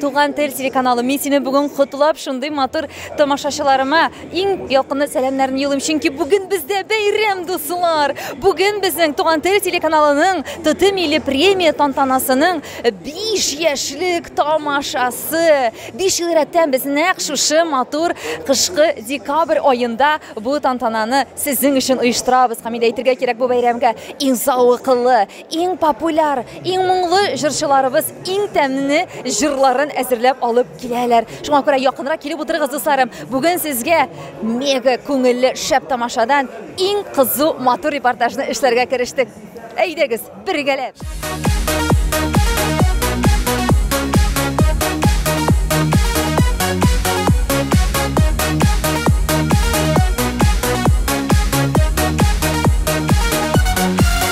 Туган тел телеканалы, мин сине бүген котлап, шундый матур тамашачыларыма иң якынлы сәламнәрне юлым, чөнки бүген бездә бәйрәм, дуслар. Бүген безнең Туган тел телеканалының Тоты милли премия тантанасының 5 яшьлек тамашасы. 5 ел рәттән без нәкъ шушы матур кышкы декабрь аенда бу тантананы сезнең өчен оештырабыз. Камилә әйтергә кирәк бу бәйрәмгә иң зәвыклы, Иң популяр, иң моңлы җырчыларыбыз иң тәмне җырларын әзерләп алып киләләр. Шуңа күрә якынрак килеп утырыгыз, дусларым. Бүген сезгә мега күңелле шәп тамашадан иң кызу матур репортажны эшләргә керештек. Әйдәгез, бергәләп!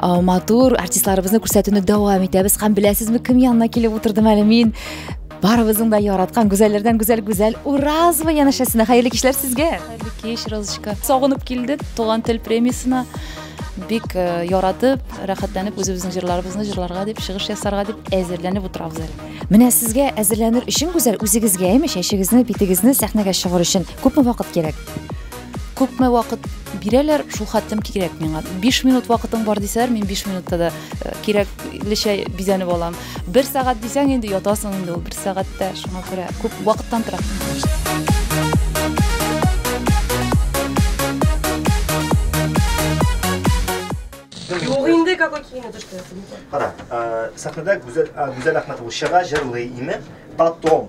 матур артистларыбызны күрсәтүне дәвам итәбез һәм беләсезме кем янына килеп утырдым әле мин барыбызның да яраткан гүзәлләрдән гүзәл гүзәл уразова янәшәсенә хәерле кичләр сезгә хәерле кич розочка сагынып килдек туган тел премиясенә бик э, яратып рәхәтләнеп үзебезнең җырларыбызны җырларга дип чыгыш ясарга дип әзерләнеп утырабыз әле менә сезгә әзерләнер өчен гүзәл үзегезгә әйме чәчегезне битегезне сәхнәгә чыгар өчен күпме вакыт кирәк күпме вакыт бирәләр, шул хәтлем кирәк миңа. 5 минут вакытың бар дисәләр, мин 5 минутта да э, кирәклечә бизәнеп алам. 1 сәгать дисәң инде ятасың инде ул 1 сәгатьтә, шуңа күрә күп вакыттан тора. Юк инде какой киеме төшкән. Кара, э, сәхнәдә Гүзәл э, Гүзәл Әхмәтова чыга, җырлый име? Потом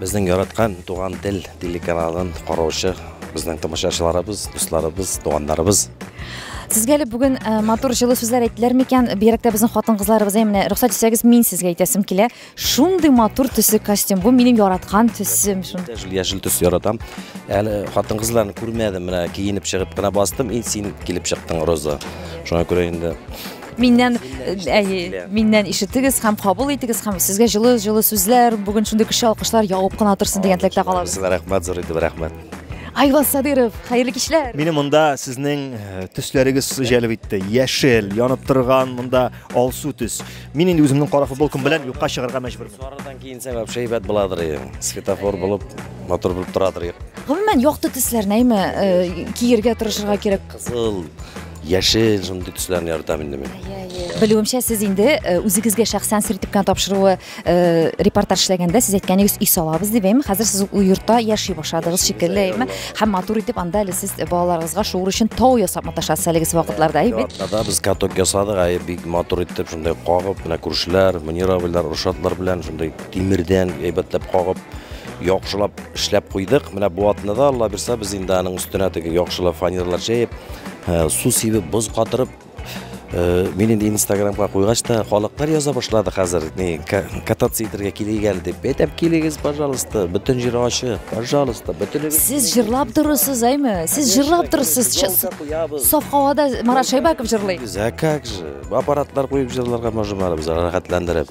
Безнең яраткан Туган тел телеканалын караучы безнең тамашачыларыбыз, дусларыбыз, туганнарыбыз. Сезгә әле бүген э, матур җылы сүзләр әйттеләр микән? Бигрәк тә безнең хатын-кызларыбыз әй менә рөхсәт итсәгез, мин сезгә әйтәсем килә. Шундый матур төсе костюм. Бу минем яраткан төсем. Шун. Яшел, яшел төс яратам. Әле хатын-кызларны күрмәдем, менә киенеп чыгып кына бастым, и син килеп чыктың, Роза. Шуңа күрә инде Миннән, әйе, миннән ишетегез һәм кабул итегез һәм сезгә җылы җылы сүзләр, бүген шундый көчле алкышлар явып кына торсын дигән теләктә калабыз. Сезгә рәхмәт, зур итеп рәхмәт. Айваз Садыров, хәерле кичләр. Мине монда сезнең э, төсләрегез җәлеп итте. Яшел, янып торган монда алсу төс. Мин инде үземнең кара футболкам белән юкка чыгарга мәҗбүр. Сарыдан киенсә вообще әйбәт буладыр. Светофор булып, матур булып торадыр. Гомумән, якты төсләр нәйме э, киергә тырышырга кирәк. Кызыл, Яшел, шундый төсләрне яратам инде мин. Белүемчә, сез инде э, үзегезгә шәхсән сер итеп кенә тапшыруы э, репортаж эшләгәндә сез әйткәнегез өй салабыз дип әйме. Хәзер сез ул йортта яши башладыгыз шикелле әйме. Һәм матур итеп анда әле сез балаларыгызга шуыр өчен тау ясап маташасыз әлеге вакытларда әйме. Анда без каток ясадык, әй бик матур итеп шундай кагып, менә күршеләр, Мөнир абыйлар, Рушатлар белән шундай тимердән әйбәтләп кагып яхшылап эшләп куйдык. Менә бу атнада Алла бирса без инде аның өстенә теге яхшылап фанерлар җәеп Су сибеп, боз катырып, мин инде инстаграмга куйгач та халыклар яза башлады хәзер не кататься итәргә килик әле дип әйтәм килегез пожалуйста бөтен җир ачы пожалуйста бөтен сез җырлап торырсыз әйме сез җырлап торырсыз саф һавада марат шәйбаков җырлый а как же аппаратлар куеп җырларга можем әле без рәхәтләндереп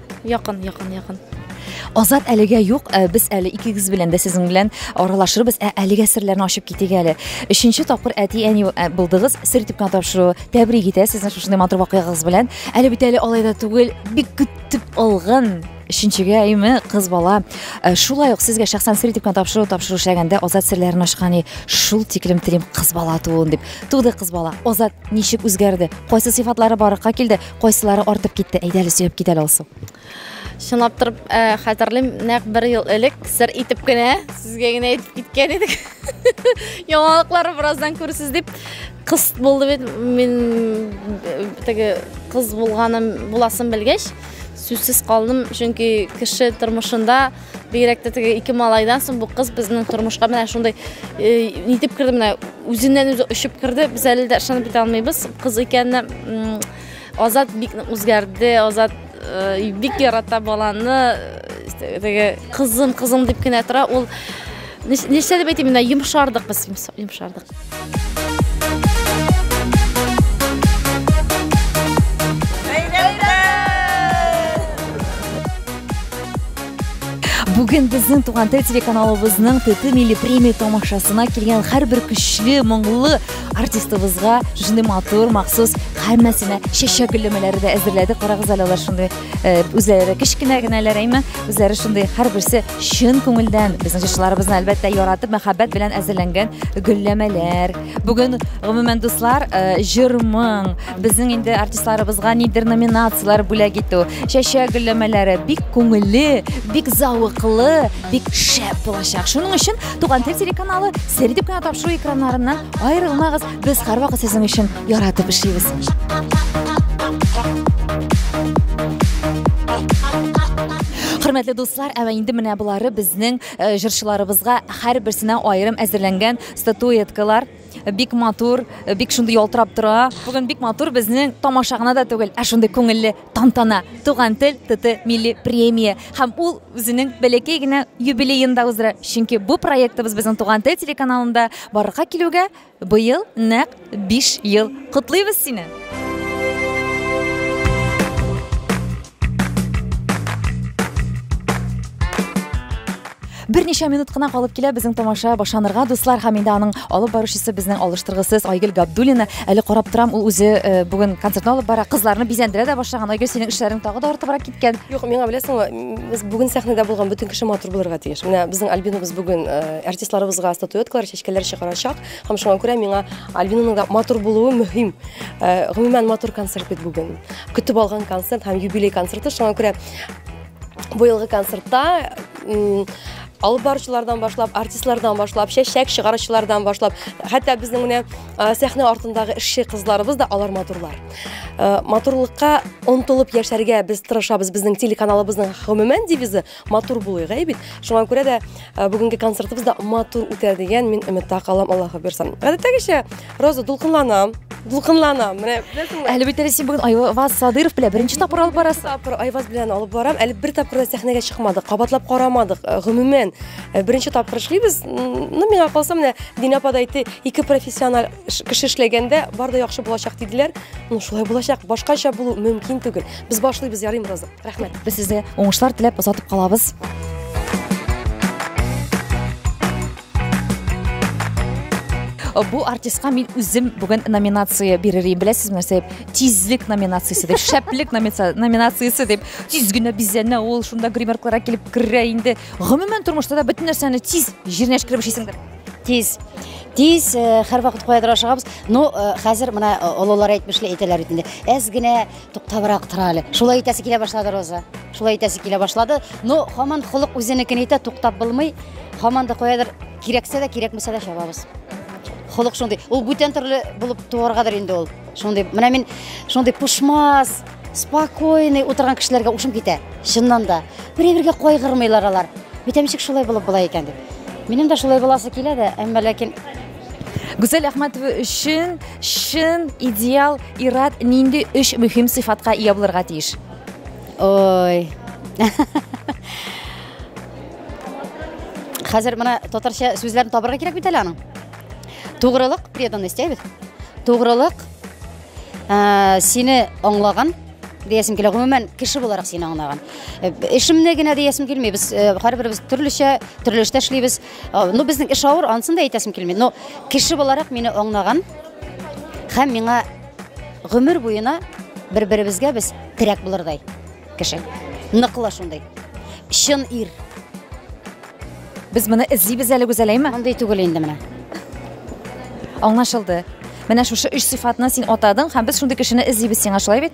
Якын, якын, якын. Азат әлегә юк, ә без әле икегез белән дә сезнең белән аралашырбыз. Ә әлегә серләрне ачып китик әле. Өченче тапкыр әти әни ә, булдыгыз, сер итеп кенә тапшыру. Тәбрик итә сезне шушындый матур вакыйгагыз белән. Әле бит әле алай да түгел, бик көтеп алган өченчегә әйме кыз бала. Ә, Шулай ук сезгә шәхсән сер итеп кенә тапшыру тапшыру эшләгәндә Азат серләрен ачкан и, шул тиклем телим кыз бала тууын дип. Туды кыз бала. Азат ничек үзгәрде? Кайсы сыйфатлары барыкка килде? Кайсылары артып китте? Әйдә әле сөяп китә алсу. Чынлап торып э, хәтерлим, нәкъ бер ел элек сер итеп кенә сезгә генә әйтеп киткән идек. Яңалыклар бераздан күрсез дип кыз булды бит. Мин э, теге кыз булганым буласын белгәч, сүзсез калдым, чөнки кеше тормышында Бигрәк тә теге ике малайдан соң бу кыз безнең тормышка менә шундый э, нитеп керде менә үзеннән үзе очып керде. Без әле дә ышанып бетә алмыйбыз. Кыз икәнне Азат бик үзгәрде. Азат э, бик ярата баланы. Э, теге кызым, кызым дип кенә тора. Ул нәрсә дип әйтим, менә йомшардык без, йомшардык. Бүген безнең туган тел телеканалыбызның ТТ милли премия тамашасына килгән һәрбер көчле, моңлы артистыбызга шундый матур махсус һәммәсенә чәчәк гөлләмәләре дә әзерләдек. Карагыз әле алар шундый Э, үзләре кечкенә генәләр әйме үзләре шундый һәрберсе чын күңелдән безнең җырчыларыбызны әлбәттә яратып мәхәббәт белән әзерләнгән гөлләмәләр бүген гомумән дуслар э, җыр моң безнең инде артистларыбызга нидер номинацияләр бүләк итү чәчәк гөлләмәләре бик күңелле бик зәвыклы бик шәп булачак шуның өчен туган тел телеканалы сер дип кенә тапшыру экраннарыннан аерылмагыз Без һәрвакыт сезнең өчен яратып эшлибез. Хөрмәтле дуслар, әмма инде менә болары безнең э, җырчыларыбызга һәрберсенә аерым әзерләнгән статуэткалар бик матур, э, бик шундый ялтырап тора. Бүген бик матур безнең тамаша гына да түгел, ә шундый күңелле тантана. Туган тел ТТ милли премия һәм ул үзенең бәләкәй генә юбилеенда уздыра. Чөнки бу проектыбыз безнең Туган тел телеканалында барырга килүгә Быел нәкъ биш ел. Котлыйбыз сине! Берничә минут кына калып килә безнең тамаша башланырга, дуслар, һәм инде аның алып баручысы безнең алыштыргысыз Айгөл Габдуллина. Әле карап торам, ул үзе э, бүген концертны алып бара, кызларны бизәндерә дә башлаган. Айгөл, синең эшләрең тагы да артыбрак киткән. Юк, миңа беләсеңме, м, без бүген сәхнәдә булган бөтен кеше матур булырга тиеш. Менә безнең Альбинабыз бүген э, артистларыбызга статуэткалар чәчәк Фикерләр чыгарачак һәм шуңа күрә миңа Альбинаның да матур булуы мөһим. Э, гомумән матур концерт бит бүген. Көтеп алган концерт һәм юбилей концерты шуңа күрә быелгы концертта алып баручылардан башлап артистлардан башлап чәчәк чыгаручылардан башлап хәтта безнең менә сәхнә артындагы эшче кызларыбыз да алар матурлар матурлыкка омтылып яшәргә без тырышабыз безнең телеканалыбызның гомумән девизы Матур булыйк, әй бит. Шуңа күрә дә э, бүгенге концертыбыз да матур үтә дигән мин өметтә калам, Аллаһы бирсен. Гадәттәгечә, Роза дулкынланам, дулкынланам. Менә беләсеңме? Әле бит әле син бүген Айваз Садыров белән беренче тапкыр алып барасың. Тапкыр Айваз белән алып барам. Әле бер тапкыр да сәхнәгә чыкмадык, кабатлап карамадык. Э, Гомумән, э, беренче тапкыр эшлибез. М, Ну, миңа калса, менә Динә апа да әйтте, ике профессиональ ш- кеше эшләгәндә бар да яхшы булачак диделәр. Ну, шулай булачак. Башкача булу мөмкин түгел. Без башлыйбыз, ярыйм, Роза. Рәхмәт. Без сезгә уңышлар теләп озатып калабыз. бу артистка мин үзем бүген номинация бирер идем беләсезме нәрсә дип тизлек номинациясе дип шәплек номинациясе дип тиз генә бизәнә ул шунда гримеркларга килеп керә инде гомумән тормышта да бөтен нәрсәне тиз җиренә эчкереп эшлисеңдер тиз тиз һәрвакыт каядыр ашыгабыз ну хәзер менә олылар әйтмешли әйтәләр бит инде әз генә Туктабрак тора әле. Шулай итәсе килә башлады Роза. Шулай итәсе килә башлады. Но хаман холык үзенекен әйтә, туктап булмый. Хаман да каядыр кирәксә дә, кирәкмәсә дә чабабыз. Холык шундый. Ул бүтән төрле булып туаргадыр инде ул. Шундый. Менә мин шундый пушмас, спокойный утырган кешеләргә ушым китә. Чыннан да. Бер-бергә кайгырмыйлар алар. Бүтәмчек шулай булып була икән дип. Минем дә шулай буласы килә дә, әмма ләкин Гүзәл Әхмәтова өчен чын идеал ират нинди өч мөһим сыйфатка ия булырга тиеш? Ой. Хәзер менә татарча сүзләрне табарга кирәк бит әле аның. Тугрылык, преданность, әйбит. Тугрылык, ә, сине аңлаган, диясем килә. Гомумән, кеше буларак сине аңлаган. Э, Эшемне генә диясем килми. Без э, һәрберебез төрлечә, төрле эштә эшлибез. Ну, безнең эш авыр, ансын да әйтәсем килми. Но кеше буларак мине аңнаган һәм миңа гомер буена бер-беребезгә без терәк булырдай кеше. Ныклы шундый. Чын ир. Без моны эзлибез әле гүзәләйме? Мондый түгел инде менә. Аңлашылды. Менә шушы өч сыйфатны син атадың һәм без шундый кешене эзлибез сиңа, шулай бит?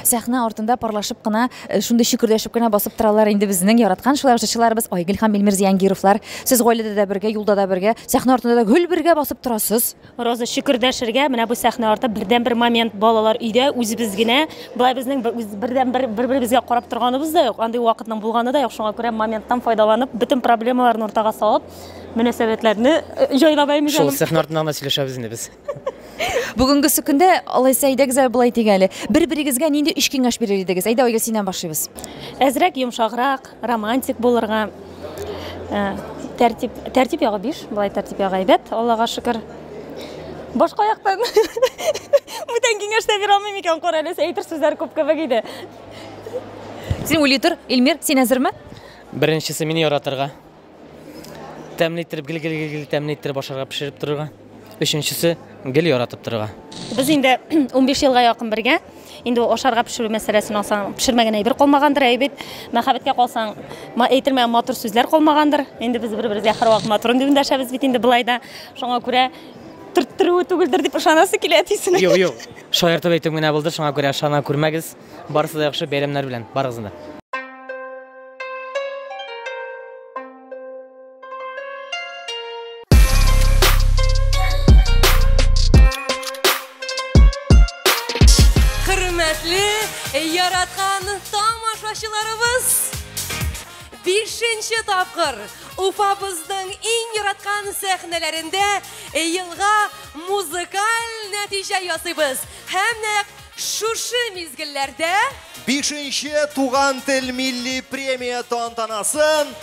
сәхнә артында парлашып кына э, шундый чикердәшеп кенә басып торалар инде безнең яраткан шулай җырчыларыбыз айгөл һәм илмир зиянгировлар сез гаиләдә дә бергә юлда да бергә сәхнә артында да гел бергә басып торасыз Роза, шөкер дәшергә, менә бу сәхнә арты бердәнбер момент, балалар өйдә, үзебез генә. Болай безнең бердәнбер бер-беребезгә карап торганыбыз да юк, андый вакытның булганы да юк. Шуңа күрә моменттан файдаланып, бөтен проблемаларны уртага салып, мөнәсәбәтләрне җайлап әйме җаным. Шул сәхнә артында гына сөйләшәбез инде без. Бүгенгесе көндә, алайса, әйдәгез әле болай дик әле, бер-берегезгә нинди өч киңәш бирер идегез? Әйдә, Айгөл, синнән башлыйбыз. Әзрәк, йомшаграк. Романтик булырга. Э, тәртип, тәртип ягы биш, былай тәртип ягы әйбәт, Аллага шөкер. Башка аяктан. Бүтән киңәш тә бирә алмыйм икән, кара әле, әйтер сүзләр күп кебек иде. Син уйлый тор, Илмир, син әзерме? Беренчесе мине яратырга. Тәмле иттереп, гел гел гел гел тәмле иттереп ашарга, пешереп торырга. Өченчесе, гел яратып торырга. Без инде 15 елга якын бергә. Инде ул ашарга пешерү мәсьәләсен алсаң, пешермәгән әйбер калмагандыр, әй бит. Мәхәббәткә калсаң, ма- әйтелмәгән матур сүзләр калмагандыр. Инде без бер-беребезгә һәрвакыт матурым дип эндәшәбез бит инде болай да. Шуңа күрә төрттерүе түгелдер дип ышанасы килә әтисенең. Юк, юк. Шаяртып әйтүем генә булды, шуңа күрә ышана күрмәгез. Барысы да яхшы, бәйрәмнәр белән барыгызны да. тапкыр Уфабызның иң яраткан сәхнәләрендә елга музыкаль нәтиҗә ясыйбыз. Һәм нәкъ Шушы мизгелләрдә Бишенче туган тел милли премия тантанасын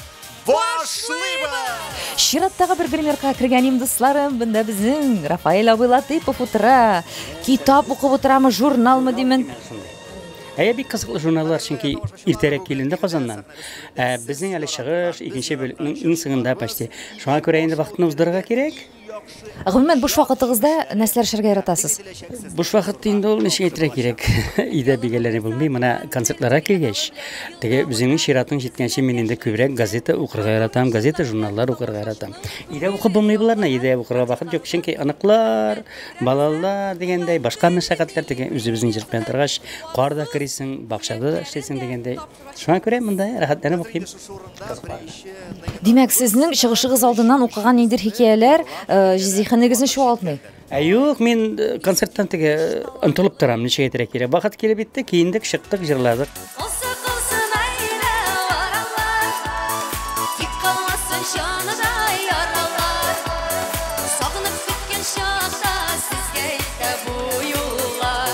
башлыйбыз! Чираттагы бер гримерка кергән им дусларым, бында безнең Рафаэль абый Латыйпов утыра. Китап укып утырамы, журналмы димен. Әйе, бик кызыклы журналлар, чөнки иртәрәк киленде Казаннан. Ә безнең әле чыгыш, икенче бүлекнең иң сыңында почти. Шуңа күрә инде вакытны уздырырга кирәк. Гомумән, буш вакытыгызда нәрсәләр эшләргә яратасыз? Буш вакытта инде ул ничек әйтергә кирәк? Өйдә бигәләре булмый. Менә концертларга килгәч, теге үзеңнең чиратың җиткәнче мин инде күбрәк газета укырга яратам, газета, журналлар укырга яратам. Өйдә укып булмый боларны, өйдә укырга вакыт юк, чөнки аныклар, балалар дигәндәй, башка мәшәкатьләр теге үзебезнең җиркән торгач, кар да керисең, бакчада да эшлисең дигәндәй. Шуңа күрә монда рәхәтләнеп укыйм. Димәк, сезнең чыгышыгыз алдыннан укыган ниндер хикәяләр э, зиһенегезне чуалтмый? Ә юк, мин э, концерттан теге э, онтылып торам, ничек әйтергә кирәк. Бахат килеп итте, киендек, чыктык, җырладык. Осы кылсын айда аралар, Тик калмасын җаныда яралар. Сагынып көткән чакта сезгә илтә бу юллар.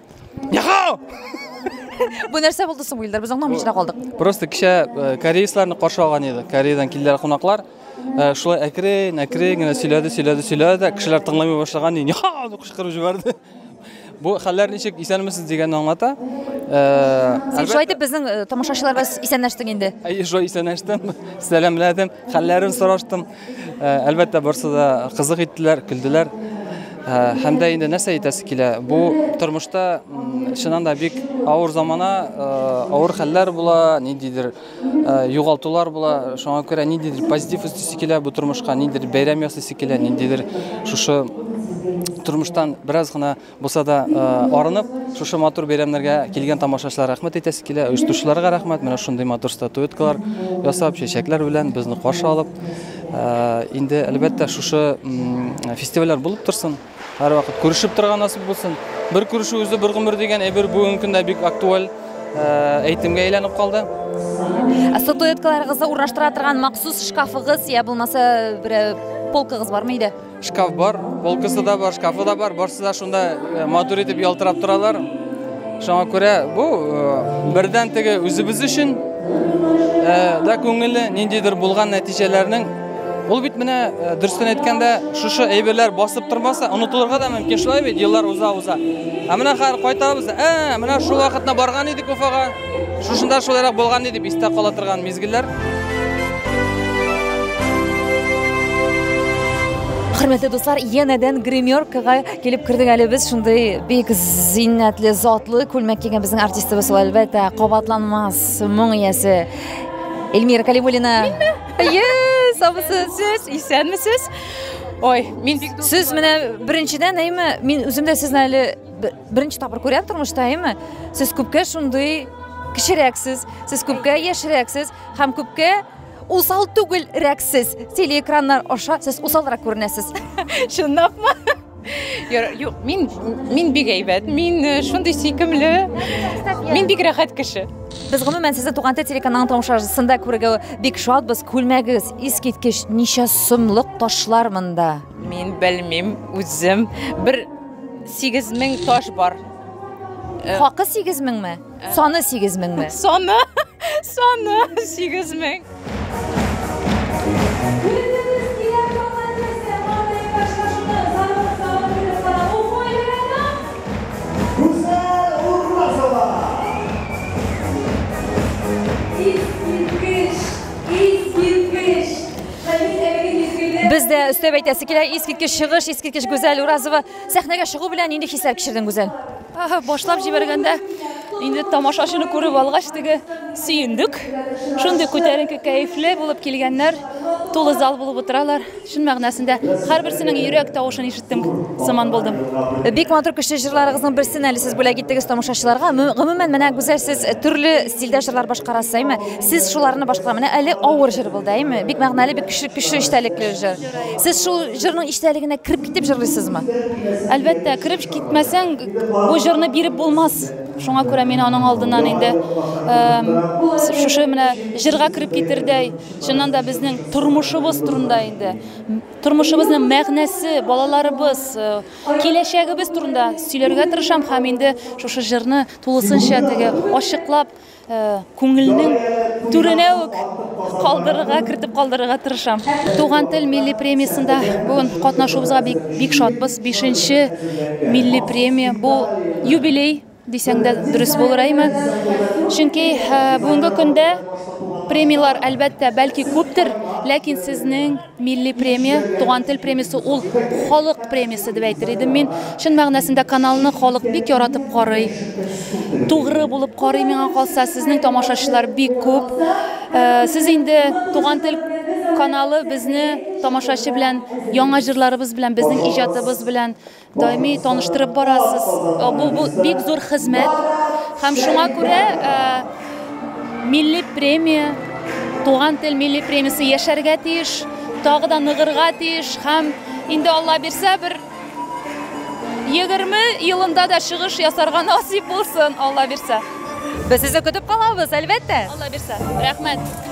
Бу нәрсә булды соң, Илдар? Без аңламый чыра калдык. Просто кичә э, кореецларны каршы алган иде. Кореядан килделәр кунаклар. Э, шулай әкрен, әкрен генә сөйләде, сөйләде, сөйләде. Кешеләр тыңламый башлаган иде. Яха! дип кычкырып җибәрде. Бу хәлләр ничек исәнмесез дигәнне аңлата. Э, Син шулай итеп безнең тамашачыларга исәнләштең инде. Әйе, шулай исәнләштем, сәламләдем, хәлләрен сораштым. Ә, әлбәттә, барсы да кызык иттеләр, көлделәр. Ә, һәм дә инде нәрсә әйтәсе килә? Бу тормышта чыннан да бик авыр замана, ә, авыр хәлләр була, ниндидер югалтулар була. Шуңа күрә ниндидер позитив үстисе килә бу тормышка, ниндидер бәйрәм ясыйсы килә, ниндидер шушы тормыштан бераз гына Булса да арынып, шушы матур бәйрәмнәргә килгән тамашачылар рәхмәт әйтәсе килә, оештыручыларга рәхмәт, менә шундый матур статуэткалар ясап, чәчәкләр белән безне каршы алып. Инде, әлбәттә, шушы фестивальләр булып торсын, һәрвакыт күрешеп торырга насыйп булсын. Бер күрешү үзе бер гомер дигән әйбер бүгенге көндә бик актуаль әйтемгә әйләнеп калды. Статуэткаларыгызны урнаштыра торган махсус шкафыгыз я булмаса бер полкагыз бармы иде? Шкаф бар, полкасы да бар, шкафы да бар, барсы да шунда э, матур итеп ялтырап торалар. Шуңа күрә бу э, бердән теге үзебез өчен э, да күңелле ниндидер булган нәтиҗәләрнең Ул бит менә э, дөрестән әйткәндә, шушы әйберләр басып тормаса, онытылырга да мөмкин шулай бит, еллар уза-уза. Ә менә хәзер кайтабыз, ә, менә шул вакытта барган идек Уфага. Шушында шулайрак булган дип истә кала торган мизгелләр. Хөрмәтле дуслар, янәдән гримеркага килеп кердек әле без шундый бик зиннәтле, затлы күлмәк кигән безнең артистыбыз ул әлбәттә кабатланмас моң иясе Эльмира Калимулина. Әйе, сабысы сез, исәнмесез? Ой, мин сез менә беренчедән әйме, мин үзем дә сезне әле Беренче тапкыр күрәм тормышта, әйме? Сез күпкә шундый кечерәксез, сез күпкә яшьрәксез һәм күпкә усал түгел рәксез. Телеэкраннар аша сез усалрак күренәсез. Чынлапмы? Юк, мин мин бик әйбәт, мин э, шундый сөйкемле, мин бик рәхәт кеше. Без гомумән сезне Туган тел телеканалының тамашачысында күрергә бик шатбыз. Күлмәгегез искиткеч, ничә сумлык ташлар монда? Мин белмим, үзем бер Сигез мең таш бар. Э, Хакы сигез меңме? Э. Саны сигез меңме? Саны, саны сигез мең. Без дә өстәп әйтәсе килә, искиткеч чыгыш, искиткеч Гүзәл Уразова. Сәхнәгә чыгу белән нинди хисләр кичердең, Гүзәл? Башлап җибәргәндә, инде тамашачыны күреп алгач, теге сөендек. Шундый күтәренке, кәефле булып килгәннәр, тулы зал булып утыралар. Чын мәгънәсендә һәрберсенең йөрәк тавышын ишетеп сыман булдым. Бик матур көчле җырларыгызның берсен әле сез бүләк иттегез тамашачыларга. Гомумән, менә Гүзәл сез төрле стильдә җырлар башкарасыз, әйме? Сез шуларны башкара. Менә әле авыр җыр булды, әйме? Бик мәгънәле, бик көчле, көчле эчтәлекле җыр. Сез шул җырның эчтәлегенә кереп китеп җырлыйсызмы? Әлбәттә, кереп китмәсәң, бу җырны биреп булмас. Шуңа күрә мин аның алдыннан инде шушы менә җырга кереп китердәй, чыннан да безнең тормышыбыз турында инде Тормышыбызның мәгънәсе, балаларыбыз, киләчәгебез турында сөйләргә тырышам һәм инде шушы җырны тулысынча теге ачыклап, күңелнең түренә үк калдырырга, кертеп калдырырга тырышам. Туган тел милли премиясендә бүген катнашуыбызга бик, бик шатбыз. Бишенче милли премия, бу юбилей. Дисәң дә дөрес булыр, әйме? Чөнки бүгенге көндә премияләр әлбәттә бәлки күптер, ләкин сезнең милли премия, туган тел премиясе ул халык премиясе дип әйтер идем мин. Чын мәгънәсендә каналны халык бик яратып карый. Тугры булып карый миңа калса, сезнең тамашачылар бик күп. Э, сез инде туган тел каналы безне тамашачы белән, яңа җырларыбыз белән, безнең иҗатыбыз белән Даими таныштырып барасыз. Бу, бу бик зур хезмәт. Һәм шуңа күрә ә, милли премия, туган тел милли премиясе яшәргә тиеш, тагы да ныгырга тиеш һәм инде Алла бирсә бер 20 елында да чыгыш ясарга насип булсын, Алла бирсә. Без сезне көтеп калабыз, әлбәттә. Алла бирсә. Рәхмәт.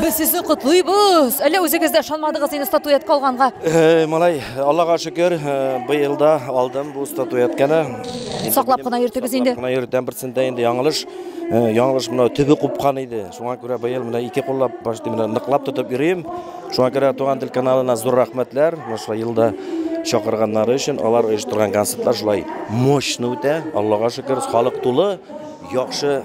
Без сезне котлыйбыз. Әллә үзегез дә ышанмадыгыз инде статуэтка алганга? Э, малай, Аллага шөкер, э, быел да алдым бу статуэтканы. Саклап кына йөртегез инде. Саклап кына йөртәм берсендә инде яңылыш. Э, яңылыш менә төбе купкан иде. Шуңа күрә быел менә ике куллап почти менә ныклап тотып йөрим. Шуңа күрә Туган тел каналына зур рәхмәтләр. Шулай елда чакырганнары өчен алар оештырган концертлар шулай мощно үтә. Аллага шөкер, халык тулы, яхшы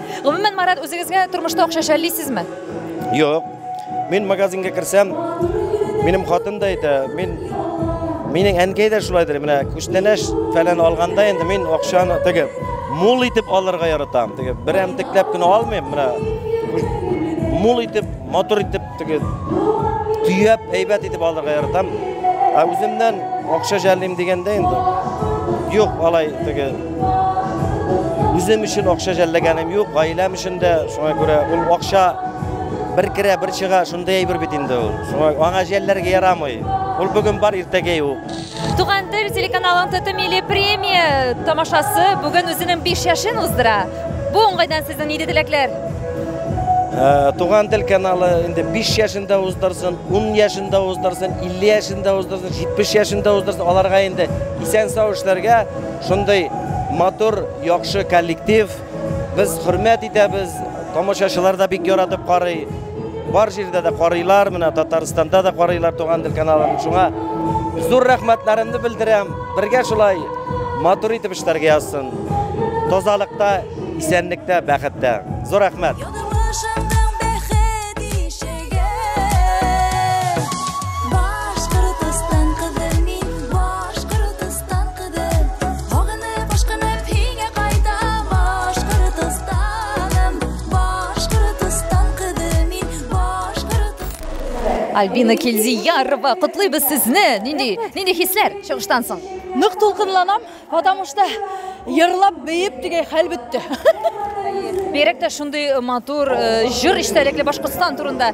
Гомумән, Марат, үзегезгә тормышта акча шәллисезме? Юк. Мин магазинга керсәм, минем хатын да әйтә, мин минем әнкәй дә шулайдыр. Менә күчтәнәш фәлән алганда инде мин акчаны теге мул итеп алырга яратам. Теге берәмтекләп кенә алмыйм. Менә мул итеп, мотор итеп Теге төяп, әйбәт итеп алырга яратам. Ә үземнән акча жәллим дигәндә инде юк, алай теге үзем өчен акча жәлләгәнем юк, гаиләм өчен дә шуңа күрә ул акча бер керә, бер чыга, шундый әйбер бит инде ул. Шуңа аңа жәлләргә ярамый. Ул бүген бар, иртәгә юк. Туган тел телеканалын ТТ милли премия тамашасы бүген үзенең биш яшен уздыра. Бу уңайдан сезнең нинди теләкләр? Ә, туган тел каналы инде 5 яшендә уздырсын, 10 яшендә уздырсын, 50 яшендә уздырсын, 70 яшендә уздырсын, аларга инде исән-сау эшләргә, шундый матур, яхшы коллектив, Без хөрмәт итәбез, тамашачылар да бик яратып карый. Бар җирдә дә карыйлар, менә Татарстанда да карыйлар туган тел каналын. Шуңа зур рәхмәтләремне белдерәм. Бергә шулай матур итеп эшләргә язсын. Тазалыкта, исәнлектә, бәхеттә. Зур рәхмәт. Альбина Кельзиярова, котлыйбыз сезне. Нинди, нинди хисләр чыгыштан соң? Нык тулкынланам, потому что йырлап бейеп дигәй хәл бетте. Берек тә шундый матур э, җыр истәлекле Башкортстан турында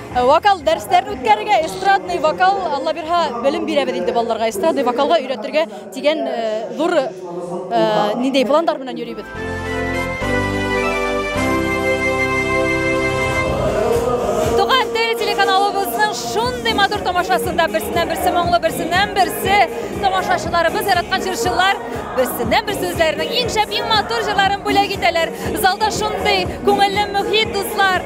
Э, вокал дәресләрен үткәрергә эстрадный вокал алла бирһа белем бирәбез инде балаларга эстрадный вокалга өйрәтергә дигән э, зур э, ниндәй пландар белән йөрибез туган тел телеканалыбызның шундый матур тамашасында берсеннән берсе моңлы берсеннән берсе тамашачыларыбыз яраткан җырчылар берсеннән берсе үзләренең иң шәп иң матур җырларын бүләк итәләр залда шундый күңелле мөхит дуслар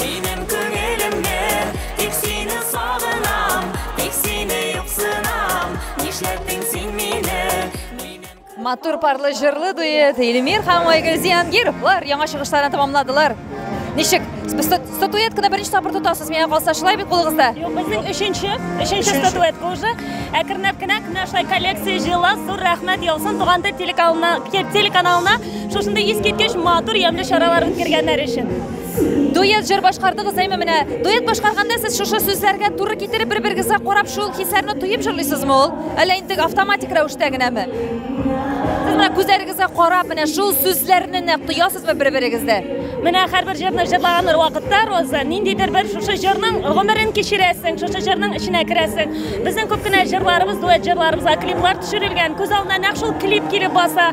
Минем күңелемне Тик сине сагынам Тик сине юксынам Нишләттең син мине Матур парлы җырлы дуэт Эльмир һәм Айгөл Зиянгировлар яңа чыгышларын тәмамладылар. Ничек? Статуэтканы беренче тапкыр тотасыз, миңа калса шулай бит кулыгызда? Юк, безнең өченче, өченче статуэтка уже әкренләп кенә менә шулай коллекция җыела. Зур рәхмәт яусын туганда телеканалына, телеканалына шушындый искиткеч матур ямьле чаралар үткәргәннәр өчен. Дуэт җыр башкардыгыз, әйме менә. Дуэт башкарганда сез шушы сүзләргә туры китереп бер-берегезгә карап шул хисләрне тоеп җырлыйсызмы ул? Әллә инде автоматик рәвештә генәме? Сез менә күзләрегезгә карап менә шул сүзләрне нәкъ тоясызмы бер-берегездә? Менә һәрбер җырны җырлаган вакытта Роза, ниндидер бер шушы җырның гомерен кичерәсең, шушы җырның эченә керәсең. Безнең күп кенә җырларыбыз, дуэт җырларыбызга клиплар төшерелгән. Күз алдына нәкъ шул клип килеп баса.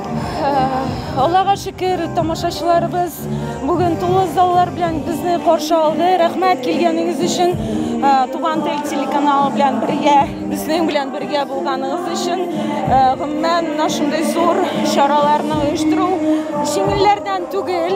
Аллага шөкер, тамашачыларыбыз бүген тулы заллар белән безне каршы алды. Рәхмәт килгәнегез өчен, Туган тел телеканалы белән бергә, безнең белән бергә булганыгыз өчен. Гомумән, шундый зур чараларны оештыру җиңелләрдән түгел.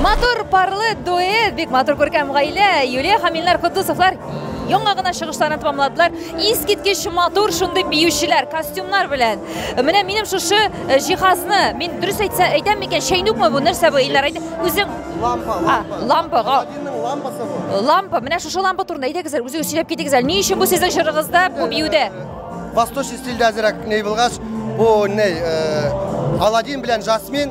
Матур парлы дуэт, бик матур күркәм гаилә. Юлия һәм Илнар Кудусовлар яңа гына чыгышларын тәмамладылар. Искиткеч матур шундый биючеләр, костюмнар белән. Менә минем шушы э, җиһазны, мин дөрес әйтсә, әйтәм микән, чәйнүкме бу, нәрсә бу, Илнар, әйт, үзең... Лампа, лампа. А, лампа, га... лампасы бу. Лампа, менә шушы лампа турында әйтегез, үзегез сөйләп китегез әле. Ни өчен бу сезнең җырыгызда, бу биюдә? Восточный стильдә әзерәк ней булгач, бу ней, э, Аладдин белән Жасмин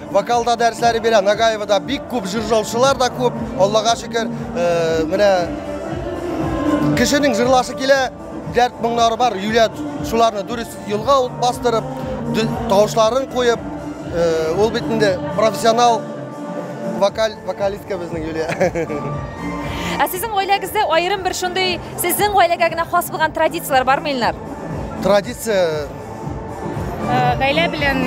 Вокалда дәресләре бирә, Нагаевода бик күп җыржаучылар да күп, Аллага шөкер, э, менә кешенең җырлашы килә, дәрт моңнары бар, юлә шуларны дөрес юлга ул бастырып, тавышларын куеп, э, ул бит инде профессионал вокаль вокалистка безнең Юлия. Ә сезнең гаиләгездә аерым бер шундый сезнең гаиләгә генә хас булган традицияләр бармы, Илнар? Традиция Гаилә белән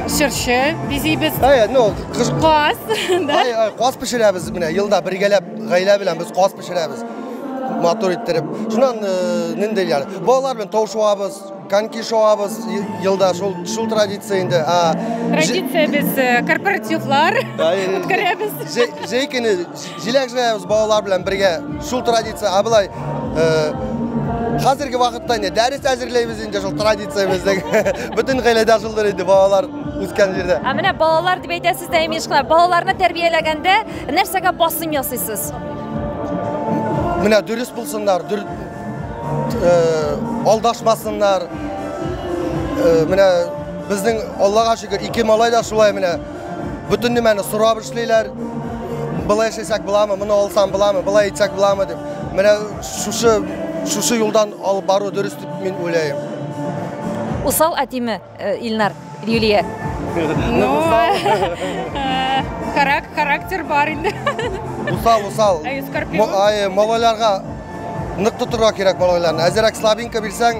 чыршы бизибез. Әй, ну, кыш... Каз, да? Әй, әй, каз пешерәбез менә, елда бергәләп гаилә белән без каз пешерәбез. Матур иттереп. Шуннан нинди яр. Балалар белән тау шуабыз, коньки шуабыз елда шул шул традиция инде. Традиция без корпоративлар үткәрәбез. Җәй көне Җиләк җыябыз балалар белән бергә. Шул традиция, ә былай хәзерге вакытта инде дәрес әзерләйбез инде шул традициябездән. Бөтен гаиләдә шулдыр инде балалар үскән җирдә. Ә менә балалар дип әйтәсез дә, имеш кына, балаларны тәрбияләгәндә нәрсәгә басым ясыйсыз? Менә дөрес булсыннар, дүр, э, алдашмасыннар. Э, менә безнең Аллага шөкер, ике малай да шулай менә Бөтен нимәне сорап эшлиләр. Былай эшләсәк буламы, моны алсам буламы, былай итсәк буламы дип. Менә шушы шушы юлдан алып бару дөрес дип мин уйлыйм. Усал әтиме э, Илнар, Юлия? Ну, э, характер бар инде. Усал, усал. Ай, скорпион. Ай, малайларга нык тотырга кирәк малайларны. Әзерәк слабинка бирсәң,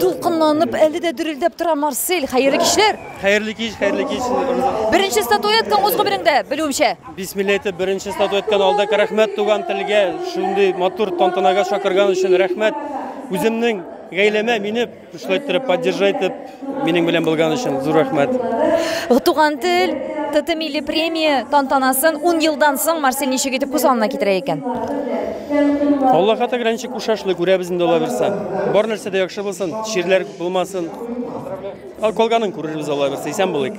Дулкынланып, әле дә дөрелдәп тора Марсель. Хәерле кичләр. Хәерле кич, хәерле кич. Беренче статуэткаң үз гомереңдә, белүемчә. Бисмилла әйтеп, беренче статуэтканы алдык. Рәхмәт туган телгә, шундый матур тантанага чакырган өчен рәхмәт. Үземнең гаиләмә мине Шулай иттереп, поддержать итеп, минем белән булган өчен зур рәхмәт. Туган тел, ТТ милли премия тантанасын 10 елдан соң Марсель ничек итеп күз алдына китерә икән? Алла хата гранчы кушашлы күрәбез инде ала берсе. Бар нәрсә дә яхшы булсын, чирләр булмасын. Ал колганын күрербез ала берсе, исән булыйк.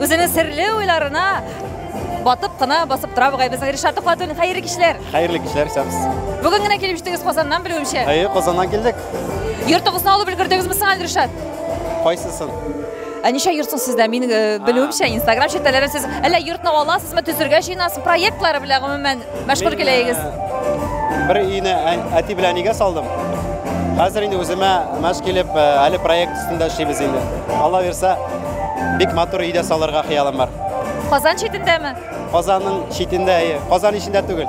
Үзенең серле уйларына батып кына басып тора бугай безнең Ришат Тухватуллин. Хәерле кичләр. Хәерле кичләр, исәнмез. Бүген генә килеп җиттегез Казаннан белүемчә. Әйе, Казаннан килдек. Йортыгызны алып өлгердегезме соң әле, Ришат? Кайсысын? Ә ничә йорт соң сездә? Мин э, белүемчә, Инстаграм челтәләрен сез әллә йортны аласызмы, төзергә җыенасыз, проектлары белән гомумән Мәшгуль киләегез. Бер өйне әти белән әнигә салдым. Хәзер инде үземә мәш килеп, әле проект өстендә эшлибез инде. Алла бирсә, бик матур өйдә салырга хыялым бар. Казан читендәме? Казанның читендә, әйе. Казан ичендә түгел.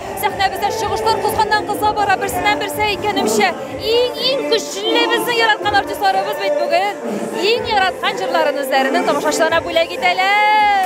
Сәхнәбездә чыгышлар кызганнан-кыза бара, берсеннән-берсе әйткәнемчә, иң-иң көчле безнең яраткан артистларыбыз бит бүген. Иң яраткан җырларын үзләренең тамашачыларына бүләк итәләр.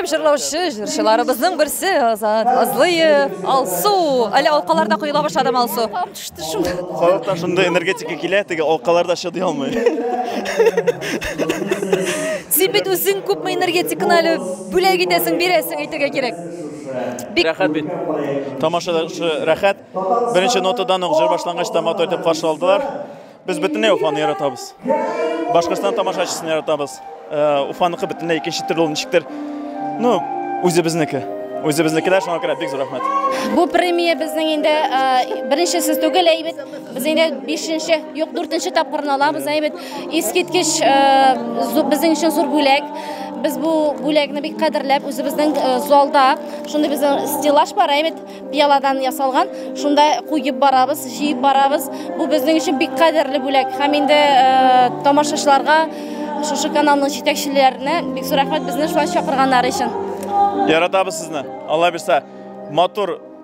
Әйдәп җырлаучы җырчыларыбызның берсе Азат Азлыев, Алсу. Әле алкаларда коела башладым Алсу. Төште шунда. Халыкта шундый энергетика килә, теге алкаларда чыдый алмый. Син бит үзең күпме энергетиканы әле бүләк итәсең, бирәсең әйтергә кирәк. Бик рәхәт бит. Тамаша да рәхәт. Беренче нотадан ук җыр башлангач та матур итеп каршы алдылар. Без бөтенләй Уфаны яратабыз. Башкортстан тамашачысын яратабыз. Э, Уфаныкы бөтенләй икенче төрле ул ничектер. Ну, үзебезнеке. Үзебезнекеләр шуңа күрә бик зур рәхмәт. Бу премия безнең инде э, беренчесе түгел, әйбит. Без инде 5-нче, юк 4-нче тапкырын алабыз, әйбит. Искиткеч безнең өчен зур бүләк. Без бу бүләкне бик кадерләп, үзебезнең залда шундый безнең стеллаж бар, әйбәт пиаладан ясалган. Шунда куеп барабыз, җыеп барабыз. Бу безнең өчен бик кадерле бүләк. Һәм инде тамашачыларга шушы каналның җитәкчеләренә бик зур рәхмәт безне шулай чакырганнары өчен. Яратабыз сезне. Алла бирса, матур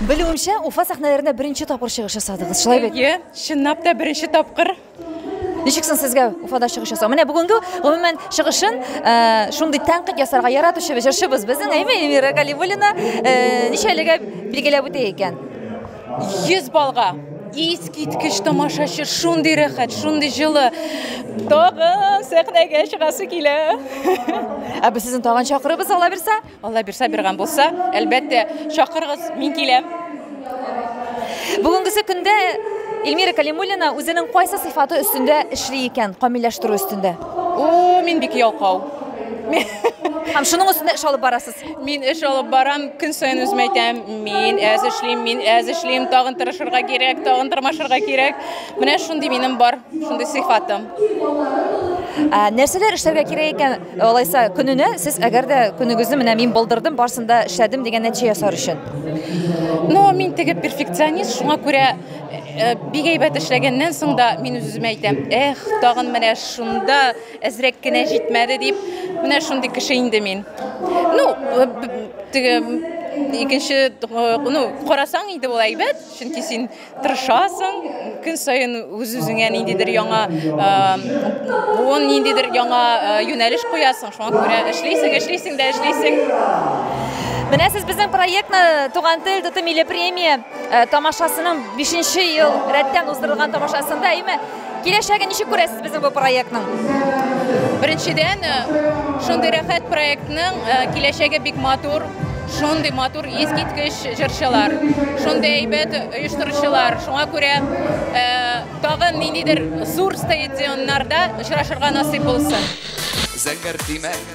Белүемчә, Уфа сәхнәләрендә беренче тапкыр чыгыш ясадыгыз, шулай бит? Әйе, чынлап та беренче тапкыр. Ничек соң сезгә Уфада чыгыш ясау? Менә бүгенге гомумән чыгышын э, шундый тәнкыйть ясарга яратучы җырчыбыз безнең Әйме Эльмира Галимуллина э, ничәлегә билгеләп үтә икән? 100 балга. Искиткеч тамашачы, шундый рәхәт, шундый җылы. Тагы сәхнәгә чыгасы килә. Ә без сезне тагын чакырырбыз, аллабирса. Алла бирса биргән булса, әлбәттә, чакырыгыз, мин киләм. Бүгенгесе көндә Эльмира Калимуллина үзенең кайсы сыйфаты өстендә эшли икән, камилләштерү өстендә? О, мин бик ялкау. Һәм шуның өстендә эш алып барасыз. Мин эш алып барам, көн саен үземә әйтәм, мин әз эшлим, мин әз эшлим, тагын тырышырга кирәк, тагын тырмашырга кирәк. Менә шундый минем бар, шундый сыйфатым. Ә нәрсәләр эшләргә кирәк икән? Алайса, көненә сез әгәр дә көнегезне менә мин булдырдым, барсын да эшләдем дигән нәтиҗә ясар өчен. Ну, мин теге перфекционист, шуңа күрә э, бик әйбәт эшләгәннән соң да мин үземә әйтәм, эх, тагын менә шунда әзрәк кенә җитмәде дип, менә шундый кеше инде мин. Ну, теге икенче э, ну, карасаң инде ул әйбәт, чөнки син Тырышасың, көн саен үз-үзеңә ниндидер яңа буын, ниндидер яңа юнәлеш куясың, шуңа күрә эшлисең, эшлисең дә эшлисең. Менә сез безнең проектны Туган тел тоты милли премия тамашасының бишенче ел рәттән уздырылган тамашасында, әйме? Киләчәге ничек күрәсез безнең бу проектның? Беренчедән, шундый рәхәт проектның киләчәге бик матур, шундый матур искиткеч җырчылар, шундый әйбәт оештыручылар. Шуңа күрә тагы ниндидер зур стадионнарда очрашырга насыйп булсын. Зәңгәр тимәк,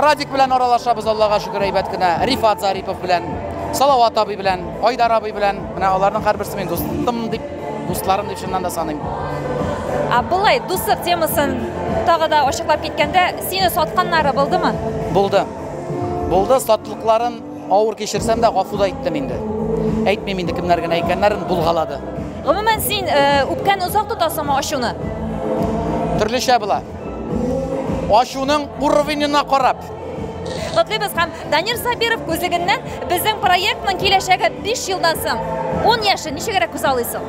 Радик белән аралашабыз, Аллага шөкер, әйбәт кенә. Рифат Зарипов белән, Салават абый белән, Айдар абый белән. Менә аларның һәрберсе мин дустым дип, дустларым дип чыннан да саныйм. А былай дуслык темасын тагы да ачыклап киткәндә, сине сатканнары булдымы? Булды. Булды, сатлыкларын авыр кичерсәм дә гафу да иттем инде. Әйтмим инде кемнәр генә икәннәрен булгалады. Гомумән син э, үпкәне озак тотасыңмы ачуны? Төрлечә була. Ашуның уровенена карап. Котлыйбыз һәм Данир Сабиров күзлегеннән безнең проектның киләчәге 5 елдан соң 10 яше ничегрәк күз алыйсың?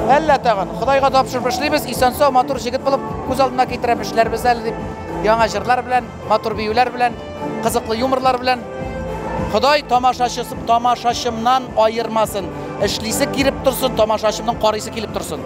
Әллә тагын, Худайга тапшырып эшлибез, исән-сау, матур җегет булып күз алдына китерәм, эшләрбез әле дип. Яңа җырлар белән, матур биюләр белән, кызыклы юморлар белән. Ходай тамашачысы тамашачымнан аермасын. Эшлисе килеп торсын, тамашачымның карыйсы килеп торсын.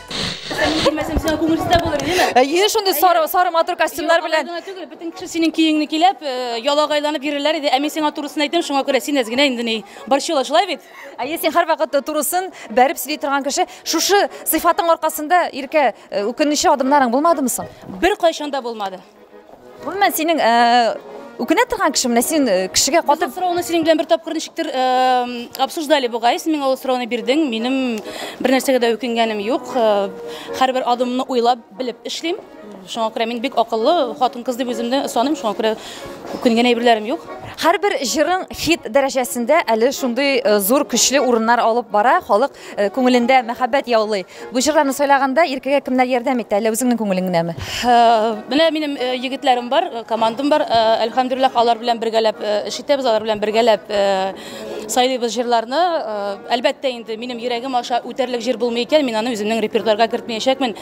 Кемәсен сиңа күңелсездә булыр, димә. Әйе, шундый сары сары матур костюмнар белән. Гына түгел, бөтен кеше синең көеңне килеп, э, ялагайланып йөрерләр иде. Ә мин сиңа турысын әйтәм, шуңа күрә син әзгенә инде ни. Борчыла, шулай бит? Әйе, син һәрвакыт турысын бәреп сөйли торган кеше. Шушы сыйфатың аркасында, Иркә, э, үкенүче адымнарың булмадымы соң? Бер кайчан да булмады. Гомумән, синең үкенә торган кеше менә син э, кешегә катып сорауны синең белән бер тапкыр ничектер э, обсуждали бугай син миңа ул сорауны бирдең минем бер нәрсәгә дә үкенгәнем юк э, һәрбер адымны уйлап белеп эшлим шуңа күрә мин бик акыллы хатын кыз дип үземне саныйм шуңа күрә үкенгән әйберләрем юк һәрбер җырың хит дәрәҗәсендә әле шундый зур көчле урыннар алып бара халык Э, күңелендә мәхәббәт яулый. Бу җырларны сайлаганда иркәгә кемнәр ярдәм итә, әллә үзеңнең күңелең генәме? Э, менә минем э, егетләрем бар, командам бар. Әлхәмдүлиллах, алар белән бергәләп эш итәбез, алар белән бергәләп сайлыйбыз җырларны. Әлбәттә инде минем йөрәгем аша үтәрлек җыр булмый икән, мин аны үземнең репертуарга кертмәячәкмен.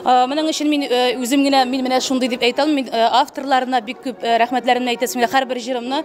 Моның өчен мин үзем генә мин менә шундый дип әйтә алмыйм. Мин авторларына бик күп рәхмәтләремне әйтәсем килә һәрбер җырымны.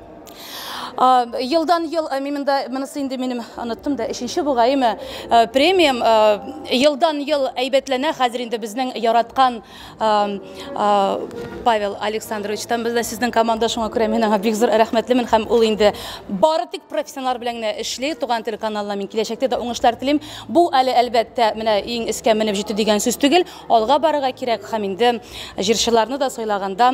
Елдан ел мимендә монысы инде минем оныттым да өченче бугайымы премиум елдан ел әйбәтләнә хәзер инде безнең яраткан Павел Александрович там бездә сезнең команда шуңа күрә мин аңа бик зур рәхмәтлемен һәм ул инде бары тик профессионаллар белән генә эшли туган тел каналына мин киләчәктә дә уңышлар телим бу әле әлбәттә менә иң искә менеп җитү дигән сүз түгел алга барырга кирәк һәм инде җырчыларны да сайлаганда